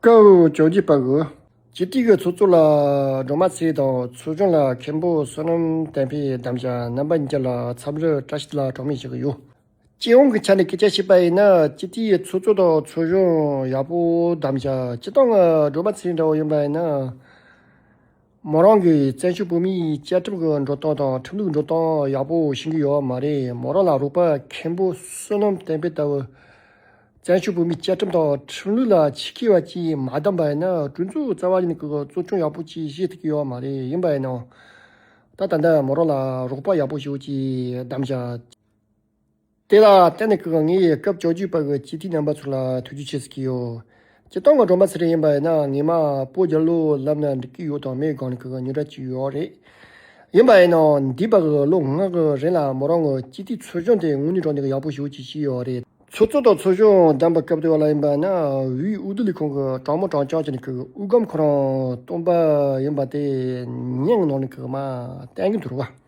ཀའོ་ཅོག་གི་པར་གོ། ཇི་སྟེ་གི་ཚོགས་གཙོ་ལ་སྒྲོལ་མ་ཚེ་དང་ཚོགས་ཆུང་ལ་མཁན་པོ་བསོད་ནམས་བསྟན་འཕེལ་དམ་བཅའ་རྣམ་པ་གཉིས་ལ་ཚབ་ལོས་བཀྲ་ཤིས་ལ་གྲོགས་མེད་བྱེད་ཀྱི་ཡོད། སྤྱི་ཡོངས་ཀྱི་ཆ་ནས་སྐད་ཆ་བཤད་པ་ཡིན་ན་ཇི་སྟེ་གི་ཚོགས་གཙོ་དང་ཚོགས་གཞོན་ཡག་པོ་དམ་བཅའ་སྤྱི་བཏང་ང་སྒྲོལ་མ་ཚེ་འདྲ་བོ་ཡིན་པ་ཡིན་ན། མོ་རང་གི་བཙན་བྱོལ་བོད་མིའི་བཅའ་ཁྲིམས་ཀྱི་འགྲོ་སྟངས་དང་ཁྲིམས་ལུགས་འགྲོ་སྟངས་ཡག་པོ་ཤེས་ཀྱི་ཡོད་མ་རེད་མོ་རང་ལ་རུག་པ་མཁན་པོ་བསོད་ནམས་བསྟན་འཕེལ་ལྟ་བུ། བཙན་བྱོལ་བོད་མིའི་བཅའ་ཁྲིམས་དང་ཁྲིམས་ལུགས་ལ་ཆེ་ཁེ་བ་ཅིག་མ་བདམས་པ་ཡིན་ན་གྲོས་འཛུགས་རྩ་བ་ནས་ཀྱི་གཙོ་སྐྱོང་ཡག་པོ་ཅིག་ཤེས་ཐུབ་ཀྱི་ཡོད་མ་རེད་ཡིན་པ་ཡིན་ན་ད་ད་ལྟ་མོ་རང་ལ་རུག་པ་ཡག་པོ་ཞིག་བདམས་བྱ། དེ་ལ་བརྟེན་ནས་གང་ངེད་ཡིས་སྐབས་བཅོ་བརྒྱད་པ་གི་སྤྱི་འཐུས་རྣམ་པ་ཚོ་ལ་ཐུགས་རྗེ་ཆེ་ཟེར་གྱི་ཡོད། སྤྱི་བཏང་གི་སྒྲོམ་པ་ཚེ་རིང་ཡིན་པ་ཡིན་ན་ངེད་མ་སྤོ་རྒྱ་ལོ་ལབ་ན་འགྲིག་གི་ཡོད་དང་མེད་སྒང་ནས་གང་ཉོ་གྲ་ཅི་ཡོད་རེད། ཡིན་པ་ཡིན་ན་འདི་བར་གི་ལོ་ལྔ་གི་རིང་ལ་མོ་རང་གི་སྤྱི་འཐུས་ཚོ་ཆུང་དེ་དངོས་གནས་དྲང་བདེན་གི་ཡག་པོ་ཞུ་ཅི་ཞིག་ཡོད་རེད། ཚོགས་གཙོ་དང་ཚོགས་གཞོན་བདམས་པ་སྐབས་དེ་བ་ལ་ཡིན་པ་ཡིན་ན་དབུས་འོས་བསྡུ་ལས་ཁང་གི་དྲང་མོ་དྲང་བཅང་བྱས་ནས་གི་དབུས་སྒམ་ཁོ་རང་བཏོན་པ་ཡིན་པ་དེ་ཉིན་གི་ནང་ནས་གི་མ་བསྟན་གི་འདུག་བ།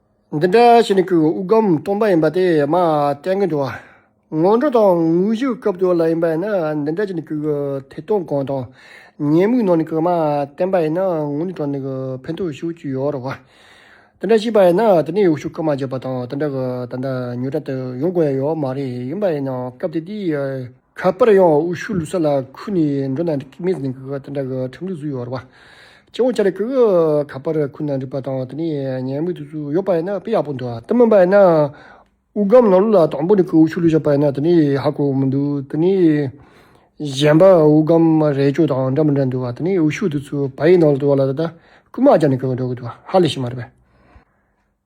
འདི་འདྲ་བྱས་ནས་ཁོའི་དབུགས་སྒམ་སྟོང་པ་ཡིན་པ་དེ་མ་བསྟན་གི་འདུག་སྔོན་འགྲོ་དང་དངོས་གཞིའི་སྐབས་དེ་ལ་ཡིན་པ་ཡིན་ན་འདི་འདྲ་བྱས་ནས་ཁོའི་ཐད་གཏོང་གང་དང་ཉེས་དམིགས་ནང་ནས་ཁོས་མ་བསྟན་པ་ཡིན་ན་ངོ་ནས་དྲང་ནས་ཕན་ཐོགས་ཤོར་གྱི་ཡོད་རེད་བ། དེ་འདྲ་བྱས་པ་ཡིན་ན་དེ་ནས་ཡོ་ཤུ་ཁ་མ་འབྱེད་པ་དང་དེ་འདྲ་གི་ད་ལྟ་ཉོ་གྲྭ་དེ་ཡོང་དགོས་ཡོད་མ་རེད་ཡིན་པ་ཡིན་ན་སྐབས་དེ་དུས་ཁ་པར་ཡང་དབུ་ཤུ་ལུས་ས་ལ་ཁུར་ནས་འགྲོ་ན་འགྲིག་མི་ཟིན་གི་དེ་འདྲ་གི་ཁྲིམས་ལུགས་སུ་ཡོད་རེད་བ། སྤྱི་བོ་ཆ་ལ་ཁུར་གི་ཁ་པར་ཁུར་ན་འགྲིག་པ་དང་དེ་ནས་ཉལ་མུས་དུས་སུ་ཡོད་པ་ཡིན་ན་དཔེ་ཡག་པོ་འདུག་ད་མིན་པ་ཡིན་ན་དབུ་སྒམ་ནང་ལུགས་ལ་དང་པོ་ནས་ཁུར་དབུ་ཤུ་ལུས་བཞག་པ་ཡིན་ན་དེ་ནས་ཧ་གོ་མི་འདུག་དེ་ནས་གཞན་པ་དབུ་སྒམ་རས་ཅོ་དང་འདྲ་མི་འདྲ་འདུག་བ་དེ་ནས་དབུ་ཤུ་དུས་སུ་བ་ཡི་ནང་ལ་དུ་བ་ལ་ད་ལྟ་རྐུན་མ་རྒྱག་ནས་ཁུར་གི་འགྲོ་གི་འདུག་བ་ཧ་ལས་ཤེས་མ་རེད་བས།